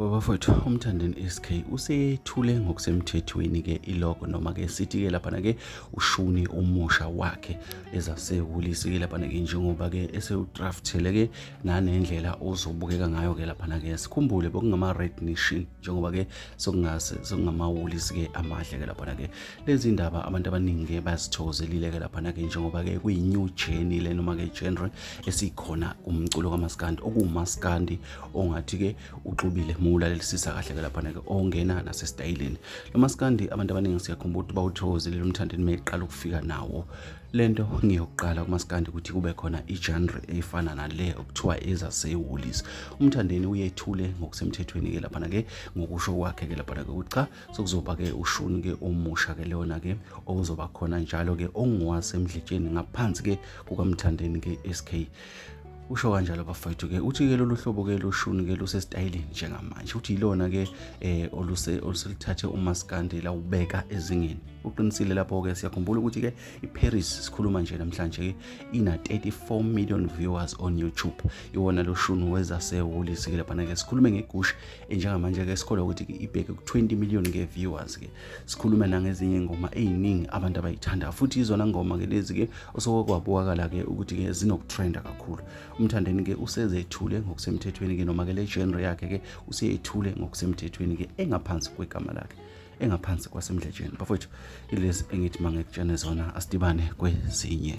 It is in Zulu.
Babafowethu uMthandeni SK usethule ngokusemthethweni ke ilogo noma ke sithi ke lapha ke ushuni umusha wakhe ezasehulisi ke lapha ke njengoba ke esewudraftele ke nanendlela ozobukeka ngayo ke lapha ke sikhumbule bokungama red nation njengoba ke sokungase sokungamawulisi ke amahle ke lapha ke Lezi ndaba abantu abaningi-ke bazithokozelile-ke laphana-ke njengoba-ke kuyi-new journey le noma-ke genre esikhona umculo kamaskandi okuwumaskandi ongathi-ke uxubile muwulalelisisa kahle-ke laphana-ke ongena nasesitayileni lo maskandi abantu abaningi siyakhumbula ukuthi bawuthokozelile umthandeni meyiqala ukufika nawo le nto ngiyokuqala kumaskandi ukuthi kube khona igenre efana nale okuthiwa ezasewolisi umthandeni uyethule ngokusemthethweni-ke laphana-ke ngokusho kwakhe-ke laphana-ke ukuthi cha sekuzoba-ke ushuni-ke omusha-ke leyona-ke okuzoba khona njalo-ke ongowasemdletsheni ngaphansi-ke kukamthandeni-ke SK usho kanjalo bafowethu ke uthi ke lolu hlobo ke loshuni ke lusesitayileni njengamanje uthi yilona ke eh oluse oluselithathe umaskandi la ubeka ezingeni uqinisile lapho ke siyakhumbula ukuthi ke iParis sikhuluma nje namhlanje ke ina 34 million viewers on YouTube iwona loshuni weza seholi sikile bana ke sikhulume ngegush njengamanje-ke sikholwa ukuthi ibheke ku-20 million ke viewers ke sikhulume nangezinye ingoma eziningi abantu abayithanda futhi izona ngoma ke lezi ke osoke kwabukakala ke ukuthi ke zinokutrenda kakhulu umthandeni ke usezethule ngokusemthethweni ke noma ke le genre yakhe ke useyethule ngokusemthethweni ke engaphansi kwegama lakhe engaphansi kwasemdletsheni bafowethu ilezi engithi mangekutshene zona asidibane kwezinye